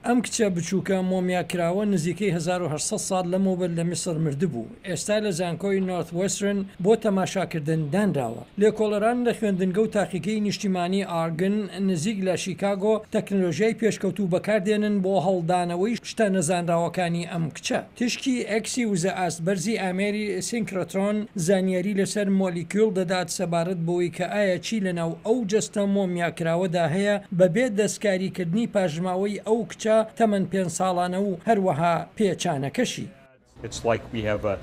ئەم کچە بچووکە مۆمیاکراوە نزیکەی هەزار و هەشت سەد ساڵ لەمەوبەر لە میسڕ مردبوو، ئێستا لە زانکۆی نۆرثوێسترن بۆ تەماشاکردن دانراوە. لێکۆڵەران لە خوێندنگە و تاقیگەی نیشتیمانی ئارگن نزیک لە شیکاگۆ تەکنەلۆژیای پێشکەوتوو بەکاردێنن بۆ هەڵدانەوەی شتە نەزانراوەکانی ئەم کچە. تیشکی ئێکسی وزە ئاست بەرزی ئامێری سینکرۆترۆن زانیاری لەسەر مۆلیکیول دەدات سەبارەت بەوەی کە ئایا چی لەناو ئەو جەستە مۆمیاکراوەدا هەیە بەبێ دەستکاریکردنی پاشماوەی ئەو کچە تەمەن پێنج ساڵانە و هەروەها پێچانەکەشی.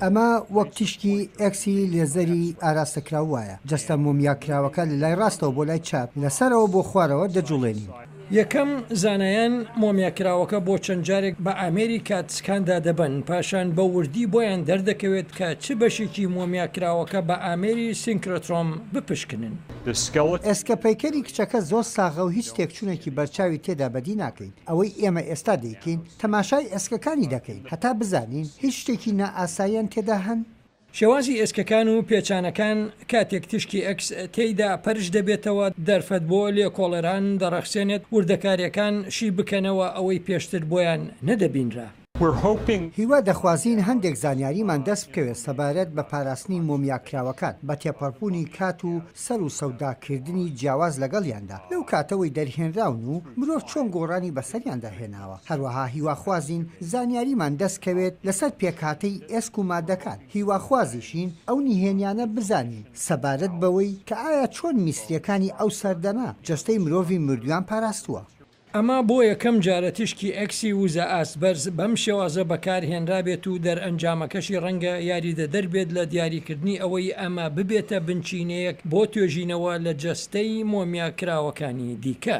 ئەمە وەک تیشکی ئێکسی لێزەری ئاراستەکراو وایە، جەستە مۆمیاکراوەکە لەلای ڕاستەوە بۆ لای چاپ، لەسەرەوە بۆ خوارەوە دەجوڵێنین. یەکەم، زانایان مۆمیاکراوەکە بۆ چەند جارێک بە ئامێری کات سکان دادەبەن، پاشان بە وردی بۆیان دەردەکەوێت کە چ بەشێکی مۆمیاکراوەکە بە ئامێری سینکرۆترۆم بپشکنن. ئێسکە پەیکەری کچەکە زۆر ساغە و هیچ تێکچونێکی بەرچاوی تێدا بەدی ناکەین، ئەوەی ئێمە ئێستا دەیکەین تەماشای ئێسکەکانی دەکەین هەتا بزانین هیچ شتێکی نائاساییان تێدا هەن؟ شێوازی ئێسکەکان و پێچانەکان کاتێک تیشکی ئێکس تێیدا پەرش دەبێتەوە دەرفەت بۆ لێکۆڵەران دەڕەخسێنێت وردەکارییەکان شی بکەنەوە ئەوەی پێشتر بۆیان نەدەبینرا. هیوا دەخوازین هەندێک زانیاریمان دەست بکەوێت سەبارەت بە پاراستنی مۆمیاکراوەکان بە تێپەڕبوونی کات و سەر و سەوداکردنی جیاواز لەگەڵیاندا لەو کاتەوەی دەرهێنراون و مرۆڤ چۆن گۆڕانی بەسەریاندا هێناوە، هەروەها هیواخوازین زانیاریمان دەست کەوێت لەسەر پێکهاتەی ئێسک و مادەکان، هیواخوازیشین ئەو نهێنیانە بزانین سەبارەت بەوەی کە ئایا چۆن میسریەکانی ئەو سەردەمە جەستەی مرۆڤی مردویان پاراستووە. ئەمە بۆ یەکەم جارە تیشکی ئێکسی وزە ئاستبەرز بەم شێوازە بەکارهێنرابێت و دەرئەنجامەکەشی ڕەنگە یاریدەدەر بێت لە دیاریکردنی ئەوەی ئەمە ببێتە بنچینەیەک بۆ توێژینەوە لە جەستەی مۆمیاکراوەکانی دیکە.